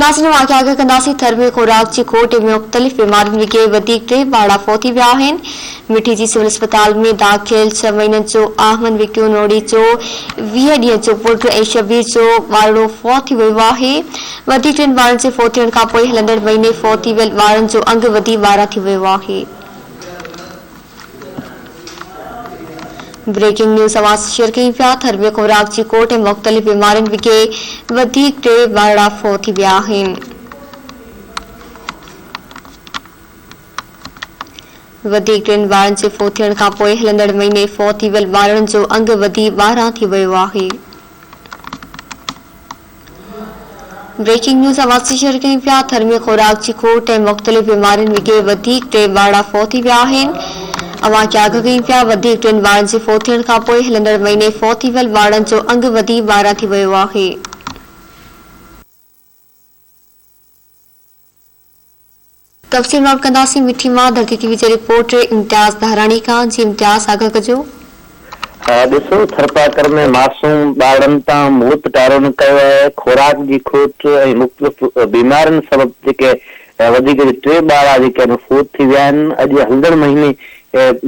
ناظرين اهو آگاهه ڪري ڪنداسين ٿر ۾ خوراڪ جي کوٽ ۽ مختلف بيمارين وگي وڌيڪ ٽي ٻارڙا فوتي ويا آهن مٺي جي سول اسپتال ۾ داخل ڇهه مهينن جو احمد وڪيو نوڙي جو ويهه ڏينهن جو پٽ ۽ شبير جو ٻارڙو فوت ٿي ويو آهي وڌيڪ ٽن ٻارڙن جي فوت ٿيڻ کانپوء هلندڙ مهيني فوتي ويل ٻارڙن جو انگ وڌي ٻارهن ٿي ويو آهي. بريڪنگ نيوز اوهان سان شيئر ڪيون پيا ٿر ۾ خوراڪ جي کوٽ ۽ مختلف بيمارين وگي وڌيڪ ٽي وارڙا فوت ٿي ويا آهن وڌيڪ ٽن وارڙن جي فوت ٿيڻ کانپوء هلندڙ مهيني فوت ٿي ويل وارڙن جو انگ وڌي ٻارهن ٿي ويو آهي بريڪنگ نيوز آباد سان شيئر ڪيون پيا ٿر ۾ خوراڪ جي کوٽ ۽ مختلف بيمارين وگي وڌيڪ ٽي ٻارڙا فوت ٿي ويا آهن اوهان کي آگاهه ڪيون پيا وڌيڪ ٽن ٻارڙن جي فوت ٿيڻ کانپوء هلندڙ مهيني فوت ٿي ويل ٻارڙن جو انگ وڌي ٻارهن ٿي ويو آهي تفصيل نوٽ ڪنداسين مٺي مان ڌرتي ٽي وي جي رپورٽ امتياز ڏاهراڻي کان جي امتياز آگاهه ڪجو. ڏسو ٿرپارڪر ۾ معصوم ٻارڙن تان موت ٽارو نه ڪيو آهي، خوراڪ جي کوٽ ۽ مختلف بيمارين سبب جيڪي وڌيڪ جي ٽي ٻارڙا جيڪي آهن فوت ٿي ويا آهن، اڄ هلندڙ مهيني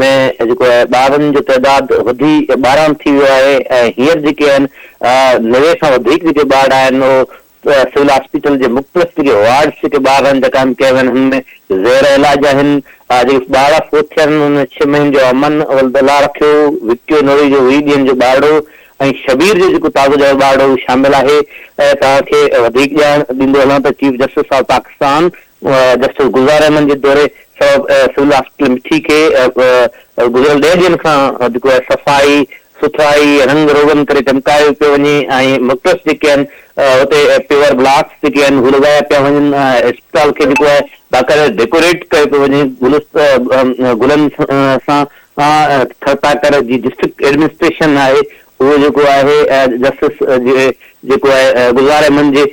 ۾ جيڪو آهي ٻارڙن جو تعداد وڌي ٻارهن ٿي ويو آهي ۽ هينئر جيڪي آهن نوي کان وڌيڪ جيڪي ٻارڙا آهن اهو سول هاسپيٽل جي مختلف جيڪي وارڊس جيڪي ٻار رن جيڪا آهن ڪيا ويا آهن هن ۾ زير علاج آهن جيڪي ٻار فوت ٿيا آهن انهن ۾ ڇهه مهين جو امن ولد الله رکيو، وڪيو نوري جو ويهه ڏينهن جو ٻارڙو ۽ شبير جو جيڪو تازو ڄايو ٻارڙو هو شامل آهي توهان کي وڌيڪ ڄاڻ ڏيندو هلان ته chief justice of Pakistan justice Gulzar Ahmed جي دوري سبب سول هاسپيٽل مٺي کي گذريل ڏهه ڏينهن کان جيڪو آهي صفائي سٿرائي رنگ روغن ڪري چمڪايو پيو وڃي ۽ مڪٽس جيڪي آهن اتي پيور بلاڪس جيڪي آهن هو لڳايا پيا وڃن ۽ اسپتال کي جيڪو آهي باقاعده ڊيڪوريٽ ڪيو پيو وڃي گلن سان ٿرپاڪر جي ڊسٽرڪٽ ايڊمنسٽريشن آهي اهو جيڪو آهي جسٽس جيڪو آهي گذاري من جي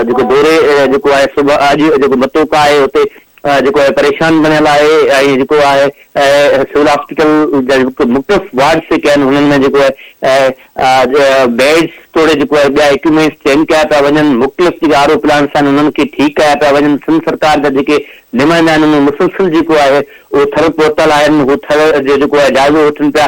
جيڪو دوري جيڪو آهي صبح اڄ جيڪو متو ڪا آهي اتي جيڪو آهي پريشان بڻيل آهي ۽ جيڪو آهي سول هاسپيٽل جا جيڪو مختلف وارڊ سيڪا آهن هنن ۾ جيڪو آهي بيڊس توڙي جيڪو آهي ٻيا اڪيومينٽس چينج ڪيا پيا وڃن مختلف جيڪا آر او پلانٽس آهن انهن کي ٺيڪ ڪيا پيا وڃن سنڌ سرڪار جا جيڪي نمائندا آهن انهن جو مسلسل جيڪو آهي اهو ٿر پهتل آهن هو ٿر جو جيڪو آهي جائزو وٺن پيا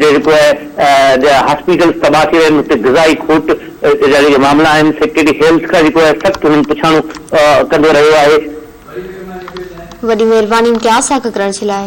جيڪو آهي جا هاسپيٽلز تباهه ٿي ويا آهن اتي غذائي کوٽ جا جيڪي معاملا آهن سيڪريٽري هيلٿ کان جيڪو آهي سخت هنن پڇاڻو ڪندو رهيو آهي. وڏي مھرباني مونکي آساڪ ڪرڻ جي لاء.